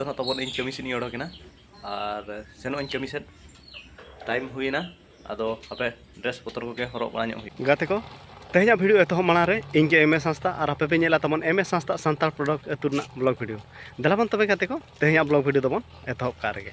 ᱱᱤᱛᱚᱜ ᱛᱟᱵᱚᱱ ᱤᱧ ᱠᱟᱹᱢᱤ ᱥᱮᱫ ᱤᱧ ᱚᱰᱚᱠ ᱮᱱᱟ ᱟᱨ ᱥᱮᱱᱚᱜ ᱟᱹᱧ ᱠᱟᱹᱢᱤ ᱥᱮᱫ ᱴᱟᱭᱤᱢ ᱦᱩᱭᱮᱱᱟ ᱟᱫᱚ ᱦᱟᱯᱮ ᱰᱨᱮᱥ ᱯᱚᱛᱚᱨ ᱠᱚᱜᱮ ᱦᱚᱨᱚᱜ ᱵᱟᱲᱟ ᱧᱚᱜ ᱦᱩᱭᱩᱜᱼᱟ ᱜᱟᱛᱮ ᱠᱚ ᱛᱮᱦᱮᱧᱟᱜ ᱵᱷᱤᱰᱤᱭᱳ ᱮᱛᱚᱦᱚᱵ ᱢᱟᱲᱟᱝ ᱨᱮ ᱤᱧ ᱜᱮ ᱮᱢ ᱮ ᱥᱟᱸᱥᱛᱟ ᱟᱨ ᱟᱯᱮ ᱯᱮ ᱧᱮᱞᱟ ᱛᱟᱵᱚᱱ ᱮᱢ ᱮ ᱥᱟᱸᱥᱛᱟ ᱥᱟᱱᱛᱟᱲ ᱯᱨᱚᱰᱚᱠᱴ ᱟᱹᱛᱩ ᱨᱮᱱᱟᱜ ᱵᱞᱚᱜ ᱵᱷᱤᱰᱤᱭᱳ ᱫᱮᱞᱟ ᱵᱚᱱ ᱛᱚᱵᱮ ᱜᱟᱛᱮ ᱠᱚ ᱛᱮᱦᱮᱧᱟᱜ ᱵᱞᱚᱜ ᱵᱷᱤᱰᱤᱭᱳ ᱫᱚᱵᱚᱱ ᱮᱛᱚᱦᱚᱵ ᱠᱟᱜ ᱨᱮᱜᱮ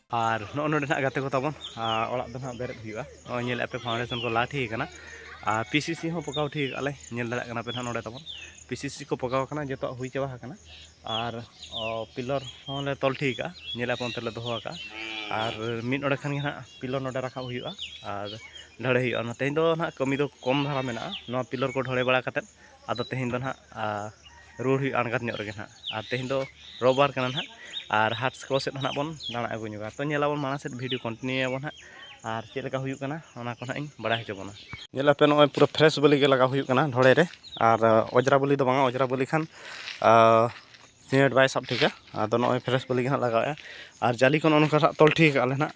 ᱟᱨ ᱱᱚᱜᱼᱚ ᱱᱚᱰᱮ ᱱᱟᱜ ᱜᱟᱛᱮ ᱠᱚ ᱛᱟᱵᱚᱱ ᱚᱲᱟᱜ ᱫᱚ ᱱᱟᱜ ᱵᱮᱨᱮᱫ ᱦᱩᱭᱩᱜᱼᱟ ᱱᱚᱜᱼᱚᱭ ᱧᱮᱞᱮᱫ ᱯᱮ ᱯᱷᱟᱣᱩᱱᱰᱮᱥᱚᱱ ᱠᱚ ᱞᱟ ᱴᱷᱤᱠ ᱟᱠᱟᱱᱟ ᱟᱨ ᱯᱤ ᱥᱤ ᱥᱤ ᱦᱚᱸ ᱯᱚᱠᱟᱣ ᱴᱷᱤᱠ ᱟᱠᱟᱫ ᱞᱮ ᱧᱮᱞ ᱫᱟᱲᱮᱭᱟᱜ ᱠᱟᱱᱟ ᱯᱮ ᱱᱟᱜ ᱱᱚᱰᱮ ᱛᱟᱵᱚᱱ ᱯᱤ ᱥᱤ ᱥᱤ ᱠᱚ ᱯᱚᱠᱟᱣ ᱟᱠᱟᱱᱟ ᱡᱚᱛᱚᱣᱟᱜ ᱦᱩᱭ ᱪᱟᱵᱟ ᱟᱠᱟᱱᱟ ᱟᱨ ᱯᱤᱞᱚᱨ ᱦᱚᱸ ᱞᱮ ᱛᱚᱞ ᱴᱷᱤᱠ ᱟᱠᱟᱫᱼᱟ ᱧᱮᱞᱮᱫ ᱯᱮ ᱚᱱᱛᱮ ᱨᱮᱞᱮ ᱫᱚᱦᱚ ᱟᱠᱟᱫᱼᱟ ᱟᱨ ᱢᱤᱫ ᱚᱸᱰᱮ ᱠᱷᱟᱱ ᱜᱮ ᱱᱟᱜ ᱯᱤᱞᱚᱨ ᱱᱚᱰᱮ ᱨᱟᱠᱟᱵ ᱦᱩᱭᱩᱜᱼᱟ ᱟᱨ ᱰᱷᱟᱹᱲᱮ ᱦᱩᱭᱩᱜᱼᱟ ᱚᱱᱟ ᱛᱮᱦᱮᱧ ᱫᱚ ᱱᱟᱜ ᱠᱟᱹᱢᱤ ᱫᱚ ᱠᱚᱢ ᱫᱷᱟᱨᱟ ᱢᱮᱱᱟᱜᱼᱟ ᱱᱚᱣᱟ ᱯᱤᱞᱚᱨ ᱠᱚ ᱰᱷᱟᱹᱲᱮ ᱵᱟᱲᱟ ᱠᱟᱛᱮᱫ ᱟᱫᱚ ᱛᱮᱦᱮᱧ ᱫᱚ ᱱᱟᱜ ᱨᱩᱣᱟᱹᱲ ᱦᱩᱭᱩᱜᱼᱟ ᱟᱬᱜᱟᱛ ᱧᱚᱜ ᱨᱮᱜᱮ ᱱᱟᱦᱟᱜ ᱟᱨ ᱛᱮᱦᱮᱧ ᱫᱚ ᱨᱚᱵᱟᱨ ᱠᱟᱱᱟ ᱱᱟᱦᱟᱜ ᱟᱨ ᱦᱟᱴ ᱠᱚ ᱥᱮᱫ ᱦᱚᱸ ᱱᱟᱦᱟᱜ ᱵᱚᱱ ᱫᱟᱬᱟ ᱟᱹᱜᱩ ᱧᱚᱜᱟ ᱛᱚ ᱧᱮᱞ ᱟᱵᱚᱱ ᱢᱟᱲᱟᱝ ᱥᱮᱫ ᱵᱷᱤᱰᱤᱭᱳ ᱠᱚᱱᱴᱤᱱᱤᱭᱩ ᱟᱵᱚᱱ ᱱᱟᱦᱟᱜ ᱟᱨ ᱪᱮᱫ ᱞᱮᱠᱟ ᱦᱩᱭᱩᱜ ᱠᱟᱱᱟ ᱚᱱᱟ ᱠᱚ ᱱᱟᱦᱟᱜ ᱤᱧ ᱵᱟᱲᱟᱭ ᱦᱚᱪᱚ ᱵᱚᱱᱟ ᱧᱮᱞ ᱟᱯᱮ ᱱᱚᱜᱼᱚᱭ ᱯᱩᱨᱟᱹ ᱯᱷᱨᱮᱥ ᱵᱟᱹᱞᱤ ᱜᱮ ᱞᱟᱜᱟᱣ ᱦᱩᱭᱩᱜ ᱠᱟᱱᱟ ᱰᱷᱚᱲᱮ ᱨᱮ ᱟᱨ ᱚᱡᱽᱨᱟ ᱵᱟᱹᱞᱤ ᱫᱚ ᱵᱟᱝᱟ ᱚᱡᱽᱨᱟ ᱵᱟᱹᱞᱤ ᱠᱷᱟᱱ ᱥᱤᱢᱮᱱᱴ ᱵᱟᱭ ᱥᱟᱵ ᱴᱷᱤᱠᱟ ᱟᱫᱚ ᱱᱚᱜᱼᱚᱭ ᱯᱷᱨᱮᱥ ᱵᱟᱹᱞᱤ ᱜᱮ ᱱᱟᱦᱟᱜ ᱞᱟᱜᱟᱣᱮᱜᱼᱟ ᱟᱨ ᱡᱟᱹᱞᱤ ᱠᱚ ᱱᱚᱜᱼᱚ ᱱᱚᱝᱠᱟ ᱱᱟᱦᱟᱜ ᱛᱚᱞ ᱴᱷᱤᱠ ᱠᱟᱜᱼᱟ ᱞᱮ ᱱᱟᱦᱟᱜ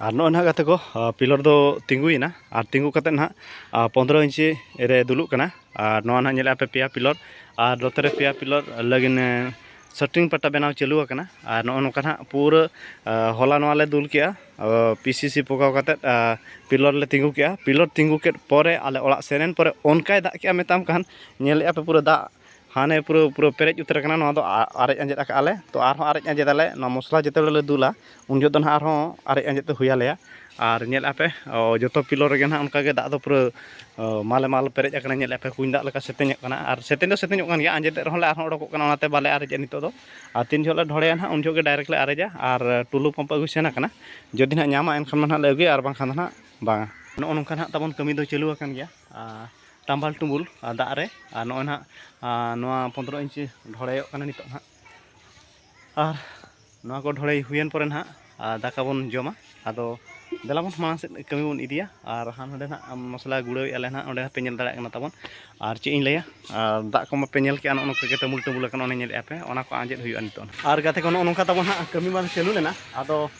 ᱟᱨ ᱱᱚᱜᱼᱚᱭ ᱱᱟᱦᱟᱜ ᱜᱟᱛᱮ ᱠᱚ ᱯᱤᱞᱟᱨ ᱫᱚ ᱛᱤᱸᱜᱩᱭᱮᱱᱟ ᱟᱨ ᱛᱤᱸᱜᱩ ᱠᱟᱛᱮᱫ ᱱᱟᱦᱟᱜ ᱯᱚᱸᱫᱽᱨᱚ ᱤᱧᱪᱤ ᱨᱮ ᱫᱩᱞᱩᱜ ᱠᱟᱱᱟ ᱟᱨ ᱱᱚᱣᱟ ᱱᱟᱦᱟᱜ ᱧᱮᱞᱮᱫᱼᱟ ᱯᱮ ᱯᱮᱭᱟ ᱯᱤᱞᱟᱨ ᱟᱨ ᱱᱚᱛᱮ ᱨᱮ ᱯᱮᱭᱟ ᱯᱤᱞᱟᱨ ᱞᱟᱹᱜᱤᱫ ᱥᱟᱴᱨᱤᱝ ᱯᱟᱴᱟ ᱵᱮᱱᱟᱣ ᱪᱟᱹᱞᱩ ᱟᱠᱟᱱᱟ ᱟᱨ ᱱᱚᱜᱼᱚ ᱱᱚᱝᱠᱟ ᱱᱟᱦᱟᱜ ᱯᱩᱨᱟᱹ ᱦᱚᱞᱟ ᱱᱚᱣᱟ ᱞᱮ ᱫᱩᱞ ᱠᱮᱫᱼᱟ ᱯᱤ ᱥᱤ ᱥᱤ ᱯᱚᱠᱟᱣ ᱠᱟᱛᱮᱫ ᱯᱤᱞᱟᱨ ᱞᱮ ᱛᱤᱸᱜᱩ ᱠᱮᱫᱼᱟ ᱯᱤᱞᱟᱨ ᱛᱤᱸᱜᱩ ᱠᱮᱫ ᱯᱚᱨᱮ ᱟᱞᱮ ᱚᱲᱟᱜ ᱥᱮᱱ ᱮᱱ ᱯᱚᱨᱮ ᱚᱱᱠᱟᱭ ᱫᱟᱜ ᱠᱮᱫᱼᱟ ᱢᱮᱛᱟᱢ ᱠᱟᱱ ᱧᱮᱞᱮᱫᱼᱟ ᱯᱮ ᱯᱩᱨᱟᱹ ᱫᱟᱜ ᱦᱟᱱᱮ ᱯᱩᱨᱟᱹ ᱯᱩᱨᱟᱹ ᱯᱮᱨᱮᱡ ᱩᱛᱟᱹᱨ ᱟᱠᱟᱱᱟ ᱱᱚᱣᱟ ᱫᱚ ᱟᱨᱮᱡ ᱟᱸᱡᱮᱫ ᱟᱠᱟᱫ ᱟᱞᱮ ᱛᱚ ᱟᱨᱦᱚᱸ ᱟᱨᱮᱡ ᱟᱸᱡᱮᱫ ᱟᱞᱮ ᱱᱚᱣᱟ ᱢᱚᱥᱞᱟ ᱡᱮᱛᱮ ᱵᱮᱲᱟ ᱞᱮ ᱫᱩᱞᱟ ᱩᱱ ᱡᱚᱦᱚᱜ ᱫᱚ ᱱᱟᱦᱟᱜ ᱟᱨᱦᱚᱸ ᱟᱨᱮᱡ ᱟᱸᱡᱮᱫ ᱫᱚ ᱦᱩᱭ ᱟᱞᱮᱭᱟ ᱟᱨ ᱧᱮᱞ ᱟᱯᱮ ᱡᱚᱛᱚ ᱯᱤᱞᱚᱨ ᱨᱮᱜᱮ ᱱᱟᱦᱟᱜ ᱚᱱᱠᱟ ᱜᱮ ᱫᱟᱜ ᱫᱚ ᱯᱩᱨᱟᱹ ᱢᱟᱞᱮ ᱢᱟᱞ ᱯᱮᱨᱮᱡ ᱟᱠᱟᱱᱟ ᱧᱮᱞ ᱟᱯᱮ ᱠᱩᱧ ᱫᱟᱜ ᱞᱮᱠᱟ ᱥᱮᱛᱮᱧᱚᱜ ᱠᱟᱱᱟ ᱟᱨ ᱥᱮᱛᱮᱧ ᱫᱚ ᱥᱮᱛᱮᱧᱚᱜ ᱠᱟᱱ ᱜᱮᱭᱟ ᱟᱸᱡᱮᱫ ᱮᱫ ᱨᱮᱦᱚᱸ ᱞᱮ ᱟᱨᱦᱚᱸ ᱚᱰᱚᱠᱚᱜ ᱠᱟᱱᱟ ᱚᱱᱟᱛᱮ ᱵᱟᱞᱮ ᱟᱨᱮᱡᱮᱜᱼᱟ ᱱᱤᱛᱚᱜ ᱫᱚ ᱟᱨ ᱛᱤᱱ ᱡᱚᱦᱚᱜ ᱞᱮ ᱰᱷᱚᱲᱮᱭᱟ ᱱᱟᱦᱟᱜ ᱩᱱ ᱡᱚᱦᱚᱜ ᱜᱮ ᱰᱟᱭᱨᱮᱠᱴ ᱞᱮ ᱟᱨᱮᱡᱟ ᱟᱨ ᱴᱩᱞᱩ ᱯᱟᱢᱯ ᱟᱹᱜᱩ ᱥᱮᱱ ᱟᱠᱟᱱᱟ ᱡᱩᱫᱤ ᱱᱟᱦᱟᱜ ᱧᱟᱢᱟ ᱮᱱᱠᱷᱟᱱ ᱢᱟ ᱱᱟᱦᱟᱜ ᱞᱮ ᱟᱹᱜᱩᱭᱟ ᱟᱨ ᱵᱟᱝᱠᱷᱟᱱ ᱫᱚ ᱱᱟᱦᱟᱜ ᱵᱟᱝᱟ ᱱᱚᱜᱼᱚ ᱱᱚᱝᱠᱟ ᱱᱟᱦᱟᱜ ᱛᱟᱵᱚᱱ ᱠᱟᱹᱢᱤ ᱫᱚ ᱪᱟᱹᱞᱩ ᱟᱠᱟᱱ ᱜᱮᱭᱟ ᱴᱟᱢᱵᱟᱞ ᱴᱩᱢᱵᱩᱞ ᱫᱟᱜ ᱨᱮ ᱟᱨ ᱱᱚᱜᱼᱚᱭ ᱱᱟᱦᱟᱜ ᱱᱚᱣᱟ ᱯᱚᱸᱫᱽᱨᱚ ᱤᱧᱪᱤ ᱰᱷᱚᱲᱮᱭᱚᱜ ᱠᱟᱱᱟ ᱱᱤᱛᱚᱜ ᱱᱟᱦᱟᱜ ᱟᱨ ᱱᱚᱣᱟ ᱠᱚ ᱰᱷᱚᱲᱮᱭ ᱦᱩᱭᱮᱱ ᱯᱚᱨᱮ ᱱᱟᱦᱟᱜ ᱫᱟᱠᱟ ᱵᱚᱱ ᱡᱚᱢᱟ ᱟᱫᱚ ᱫᱮᱞᱟ ᱵᱚᱱ ᱢᱟᱲᱟᱝ ᱥᱮᱫ ᱠᱟᱹᱢᱤ ᱵᱚᱱ ᱤᱫᱤᱭᱟ ᱟᱨ ᱦᱟᱸᱰᱮ ᱱᱟᱦᱟᱜ ᱢᱚᱥᱞᱟ ᱜᱩᱲᱟᱹᱣᱮᱫᱼᱟ ᱞᱮ ᱱᱟᱦᱟᱜ ᱚᱸᱰᱮ ᱦᱚᱸᱯᱮ ᱧᱮᱞ ᱫᱟᱲᱮᱭᱟᱜ ᱠᱟᱱᱟ ᱛᱟᱵᱚᱱ ᱟᱨ ᱪᱮᱫ ᱤᱧ ᱞᱟᱹᱭᱟ ᱟᱨ ᱫᱟᱜ ᱠᱚ ᱢᱟᱯᱮ ᱧᱮᱞ ᱠᱮᱫᱼᱟ ᱱᱚᱜᱼᱚ ᱱᱚᱝᱠᱟ ᱜᱮ ᱴᱟᱹᱢᱩᱞ ᱴᱟᱹᱢᱩᱞ ᱟᱠᱟᱱᱟ ᱚᱱᱮ ᱧᱮᱞᱮᱫᱼᱟ ᱯᱮ ᱚᱱᱟ ᱠᱚ ᱟᱸᱡᱮᱫ ᱦᱩᱭᱩᱜᱼᱟ ᱱᱤᱛᱚᱜ ᱟᱨ ᱜᱟᱛᱮ ᱠᱚ ᱱᱚᱜᱼᱚ ᱱᱚᱝᱠᱟ ᱛᱟᱵᱚᱱ ᱦᱟᱸᱜ ᱠᱟᱹᱢᱤ ᱢᱟ ᱪᱟᱹᱞᱩ ᱞᱮᱱᱟ ᱟᱫᱚ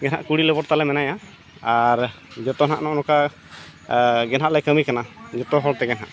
ᱜᱮ ᱱᱟᱦᱟᱜ ᱠᱩᱲᱤ ᱞᱮᱵᱚᱨ ᱛᱟᱞᱮ ᱢᱮᱱᱟᱭᱟ ᱟᱨ ᱡᱚᱛᱚ ᱱᱟᱦᱟᱜ ᱱᱚᱜᱼᱚ ᱱᱚᱝᱠᱟ ᱜᱮ ᱱᱟᱦᱟᱜ ᱞᱮ ᱠᱟᱹᱢᱤ ᱠᱟᱱᱟ ᱡᱚᱛᱚ ᱦᱚᱲ ᱛᱮᱜᱮ ᱱᱟᱦᱟᱜ